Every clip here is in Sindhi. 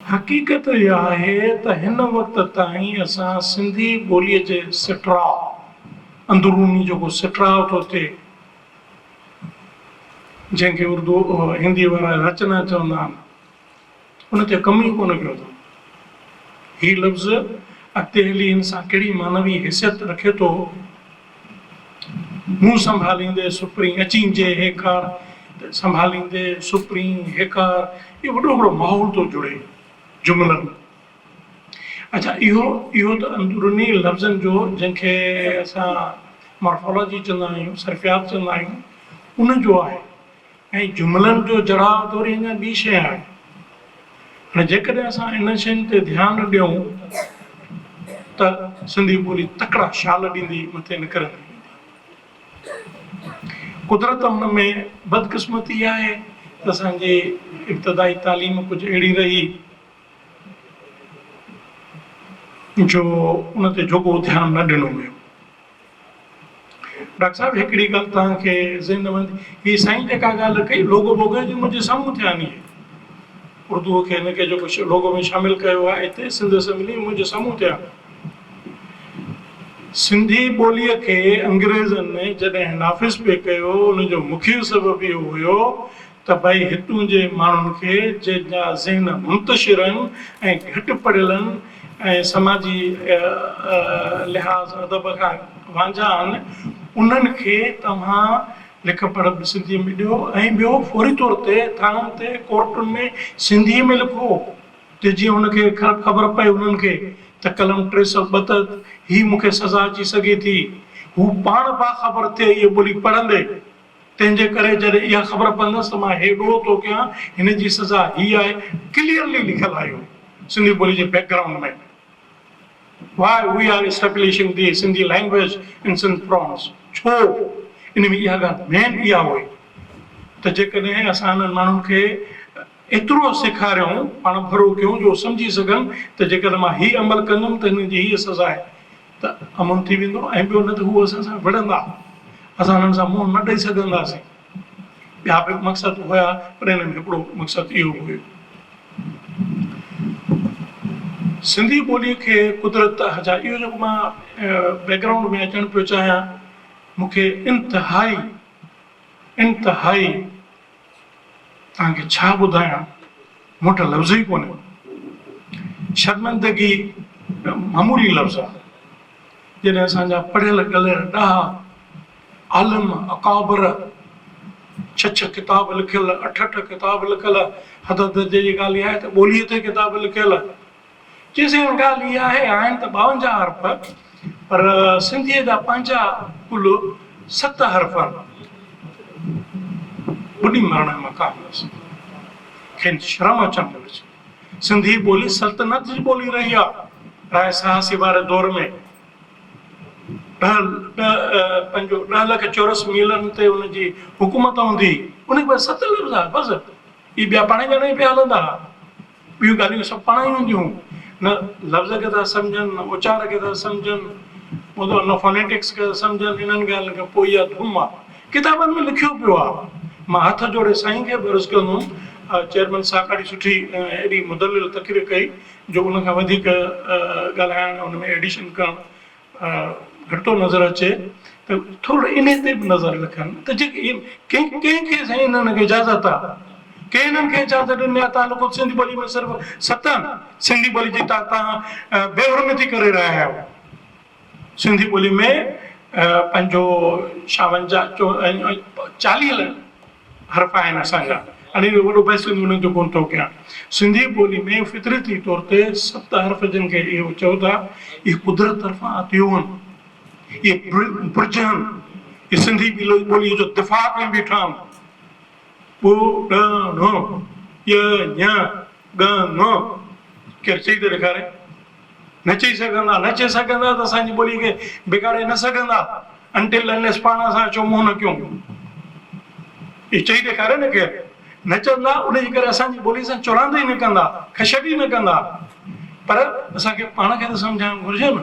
حقيقت اها آهي ته هن وقت تائين اسان سنڌي ٻوليء جي سٽراء، اندروني جيڪو سٽراء ٿو ٿئي، جنهن کي اردو هنديء وارا رچنا چوندا آهن، ان تي ڪم ئي ڪونه ڪيو اٿن. هي لفظ اڳتي هلي ان سان ڪهڙي معنوي حيثيت رکي ٿو، مون سنڀاليندي سپرين اچين جي هيڪار ته سنڀاليندي سپرين هيڪار اهو وڏو هڪڙو ماحول ٿو جڙي جملن اچا اهو اهو ته اندروني لفظن جو جنهن کي اسان مارفالاجي چوندا آهيون صرفيات چوندا آهيون ان جو آهي ۽ جملن جو جڙاء ٿوري اڃا ٻي شيء آهي. هاڻي جيڪڏهن اسان انهن شين تي ڌيان ڏيون ته سنڌي ٻولي تڪڙا شال ڏيندي مٿي نکرندي ويندي. قدرت هن ۾ بدقسمتي آهي ته اسان جي ابتدائي تعليم ڪجهه اهڙي رهي جو ان تي جوڳو ڌيان نه ڏنو ويو. ڊاڪٽر صاحب هڪڙي ڳالھ توهان کي ذهن ۾ ايندي هي سائين جيڪا ڳالھ ڪئي لوگو ووگو جي منهنجي سامهون ٿي آندي هي اردو کي هن کي جيڪو لوگو ۾ شامل ڪيو آهي هتي سنڌ اسيمبلي ۾ منهنجي سامهون ٿي آندي سنڌي ٻولي کي انگريزن جڏهن نافذ پئي ڪيو ان جو مکيه سبب اهو هيو ته ڀئي هتون جي ماڻهن کي جن جا ذهن منتشر آهن ۽ گهٽ پڙهيل آهن ۽ سماجي لحاظ ادب کان وانجها آهن انهن کي توهان لک پڙهه به سنڌي ۾ ڏيو ۽ ٻيو فوري طور تي ٿاڻن تي ڪورٽن ۾ سنڌي ۾ لکو ته جيئن ان کي خبر پئي انهن کي ته قلم ٽي سؤ ٻه تحت هي مون کي سزا اچي سگهي ٿي هو پاڻ باخبر ٿئي هيء ٻولي پڙهندي. تنهن جي ڪري جڏهن اها خبر پوندس ته مان هي ڏوهه ٿو ڪيان، هن جي سزا هي آهي، ڪليئرلي لکيل آهي اهو سنڌي ٻولي جي background ۾ Why we are establishing the Sindhi language in Sindh prawns ڇو ان ۾ اها ڳالهه مين اها هئي ته جيڪڏهن اسان انهن ماڻهن کي ايترو سيکاريون پاڻ ڀرو ڪيون جو سمجهي سگهن ته جيڪڏهن مان هي عمل ڪندم ته هن جي هيء سزا آهي ته امن ٿي ويندو ۽ ٻيو نه ته هو اسان سان وڙهندا، اسان هنن سان منهن نه ڏئي سگهنداسين. ٻيا به مقصد هيا پر انهن ۾ هڪڙو مقصد اهو به هيو. سنڌي ٻوليء کي قدرت جا اهو جيڪو مان بيڪگرائونڊ ۾ اچڻ پيو چاهيان مون کي انتهائي انتهائي توهان کي ڇا ٻڌايان، مون وٽ لفظ ئي ڪونهي. شرمندگي ته معمولي لفظ آهي. جڏهن اسان جا پڙهيل ڳلهيل ڏاها عالم اڪابر ڇهه ڇهه ڪتاب لکيل، اٺ اٺ ڪتاب لکيل، حد درجي جي ڳالهه اها آهي ته ٻوليء تي ڪتاب لکيل، چي سائين ڳالهه اها آهي آهن ته ٻاونجاهه حرف پر سنڌيء جا پنهنجا ڪل ست حرف آهن. ٻڏي مرڻ جو مقام هوس. کين شرم اچڻ گهرجي. سنڌي ٻولي سلطنت جي ٻولي رهي آ. راء سهاسي واري دور ۾ ڏهه پنهنجو ڏهه لک چورس ميلن تي ان جي حڪومت هوندي هئي. ان کي ست لفظ آ بس. اهي ٻيا پاڻهي ڄاڻائي پيا هلندا هئا. ٻيون ڳالهيون سڀ پاڻ ئي هونديون هون. نه لفظ کي ٿا سمجهن، نه اچار کي ٿا سمجهن، ٻڌو نه فونيٽڪس کي ٿا سمجهن، انهن ڳالهين کان پوء اها ڌوم آ. ڪتابن ۾ لکيو پيو آ. مان هٿ جوڙي سائين کي به عرض ڪندو هوم، چيئرمين ساڪاڙي سٺي ۽ ايڏي مدلل تقرير ڪئي جو ان کان وڌيڪ ڳالهائڻ ان ۾ ايڊيشن ڪرڻ گهٽو نظر اچي ته ٿورڙو انهي تي به نظر رکن ته جيڪي ڪنهن ڪنهن کي سائين انهن کي اجازت آ ڪنهن انهن کي اجازت ڏني آ تان لوڪو سنڌي ٻولي ۾ صرف ستن سنڌي ٻولي جي تان تان بي حرمتي ڪري رهيا آهيو سنڌي ٻولي ۾ پنهنجو شاونجا چو چاليهه حرف آهن اسان جا انهن جو وڏو بحث ڪندي انهن تي ڪونه ٿو ڪيان. سنڌي ٻولي ۾ فطرتي طور تي ست حرف جن کي اهو چئو ٿا اهي قدرت طرفان عطيوهن اهي برجهن اهي سنڌي ٻولي جو دفاع ڪري بيٺا آهن ٻو ڏ ڙون ڄ ڃ ڳ ڱ ڪير چئي ته ڏيکاري. نه چئي سگهندا، نه چئي سگهندا ته اسان جي ٻولي کي بگاڙي نه سگهندا Until Unless پاڻ اسان اچو منهن نه ڪيون. اهو چئي ڏيکاريو نه ڪير نه چوندا ان جي ڪري اسان جي ٻولي سان چراند ئي نه ڪندا، کشٽ ئي نه ڪندا پر اسان کي پاڻ کي ته سمجهائڻ گهرجي نه.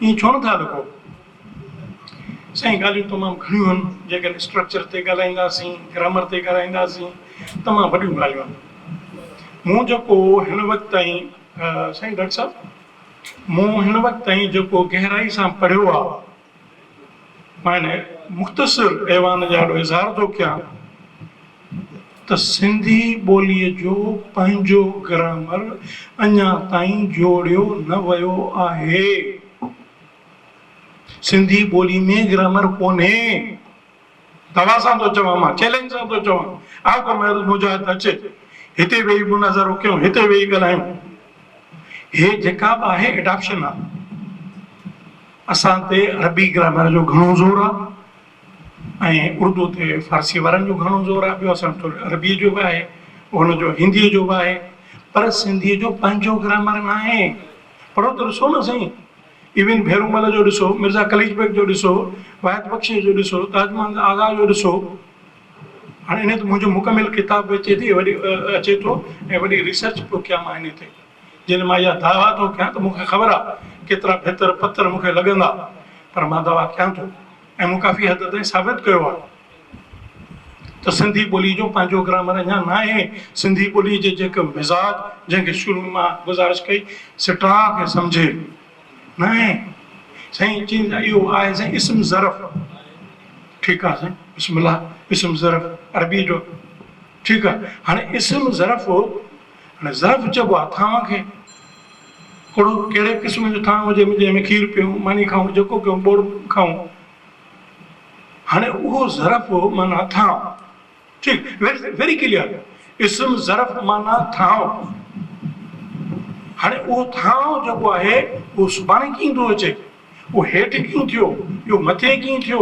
ائين ڇو نٿا لڪو؟ سائين ڳالهيون تمام گهڻيون آهن، جيڪڏهن اسٽرڪچر تي ڳالهائينداسين، گرامر تي ڳالهائينداسين، تمام وڏيون ڳالهيون آهن. مون جيڪو هن وقت تائين سائين ڊاڪٽر صاحب مون هن وقت تائين جيڪو گهرائي سان پڙهيو آهي، معنيٰ مختصر ايوان جي آڏو اظهار ٿو ڪيان ته سنڌي ٻوليء جو پنهنجو گرامر اڃا تائين جوڙيو نه ويو آهي. سنڌي ٻوليء ۾ گرامر ڪونهي. دغا سان ٿو چوان مان چئلينج سان ٿو چوان آء ڪو محروم مجاهد اچ هتي ويهي مناظرو ڪيون هتي ويهي ڳالهايون هي جيڪا به آهي ايڊاپشن آهي اسان تي عربي گرامر جو گهڻو زور آهي ۽ اردو تي فارسي وارن جو گهڻو زور آهي ٻيو اسان وٽ عربي جو به آهي ان جو هندي جو به آهي پر سنڌي جو پنهنجو گرامر ناهي پڙهو ته ڏسو نه سائين ايون ڀيرومل جو ڏسو، مرزا قليچ بيگ جو ڏسو، واحد بخشيء جو ڏسو، تاج محمد آغا جو ڏسو. هاڻ انهيء تي منهنجو مڪمل ڪتاب به اچي ٿي وڏي اچي ٿو ۽ وڏي ريسرچ پيو ڪيان مان انهيء تي. جڏهن مان اها دعويٰ ٿو ڪيان ته مون کي خبر آهي ڪيترا ڀيتر پٿر مون کي لڳندا پر مان دعويٰ ڪيان ٿو ۽ مون ڪافي حد تائين ثابت ڪيو آهي. ته سنڌي ٻوليء جو پنهنجو گرامر اڃا ناهي. سنڌي ٻوليء جي جيڪي مزاج، جنهن کي شروع مان گذارش ڪئي، سٽاء کي سمجهي ناهي سائين چين ته اهو آهي سائين اسم ظرف ٺيڪ آهي سائين بسم الله اسم ظرف عربيء جو ٺيڪ آهي هاڻي اسم ظرف هاڻي ظرف چئبو آهي ٿانء کي ڪهڙو ڪهڙي قسم جو ٿانء هجي جنهن ۾ کير پيئون ماني کائون جيڪو ڪيون ٻوڙ کائون هاڻي اهو ظرف معنيٰ ٿانء. ٺيڪ ويري ڪليئر اسم ظرف معنيٰ ٿانء. هاڻي اهو ٿانء جيڪو آهي اهو سڀاڻي ڪيئن ٿو اچي؟ اهو هيٺ ڪيئن ٿيو؟ اهو مٿي ڪيئن ٿيو؟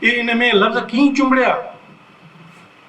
اهي ان ۾ لفظ ڪيئن چنبڙيا؟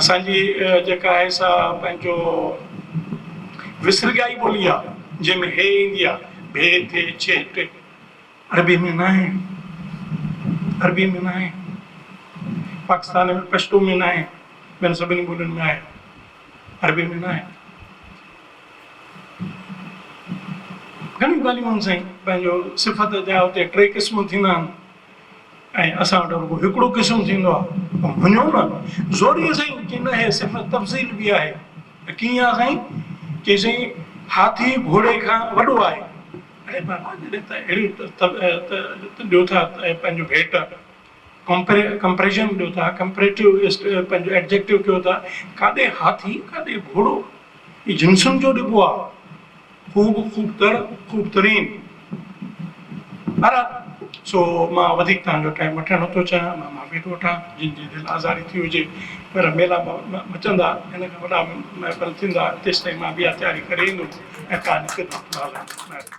اسان جي جيڪا آهي سا پنهنجو وسرڳائي ٻولي آ جنهن ۾ هي ايندي آ ڀي ٿي ڇي ٽي عربي ۾ ناهي عربي ۾ ناهي پاڪستان ۾ پشتو ۾ ناهي ٻين سڀني ٻولين ۾ آهي عربي ۾ ناهي گهڻيون ڳالهيون آهن سائين پنهنجو صفت جا اتي ٽي قسم ٿيندا آهن ۽ اسان وٽ رڳو هڪڙو قسم ٿيندو آ ته مڃو نه زوريء سائين چي نه هي صنف تفضيل به آهي ته ڪيئن آ سائين چي سائين هاٿي گهوڙي کان وڏو آهي اڙي بابا جڏهن ته اهڙيون ته ڏيو ٿا پنهنجو ڀيٽ ڪمپري ڪمپريشن ڏيو ٿا ڪمپريٽو اسٽ پنهنجو ايڊجيڪٽو ڪيو ٿا ڪاڏي هاٿي ڪاڏي گهوڙو هي جنسن جو ڏبو آ خوب خوب تر خوب ترين پر سو مان وڌيڪ تهان جو ٽائيم وٺڻ نه ٿو چاهيان مان معافي ٿو وٺان جن جي دل آزاري ٿي هجي پر ميلا مچندا هن کان وڏا محفل ٿيندا تيستائين مان ٻيا تياري ڪري ايندم ۽ تهان جي خدمت ۾ حاضر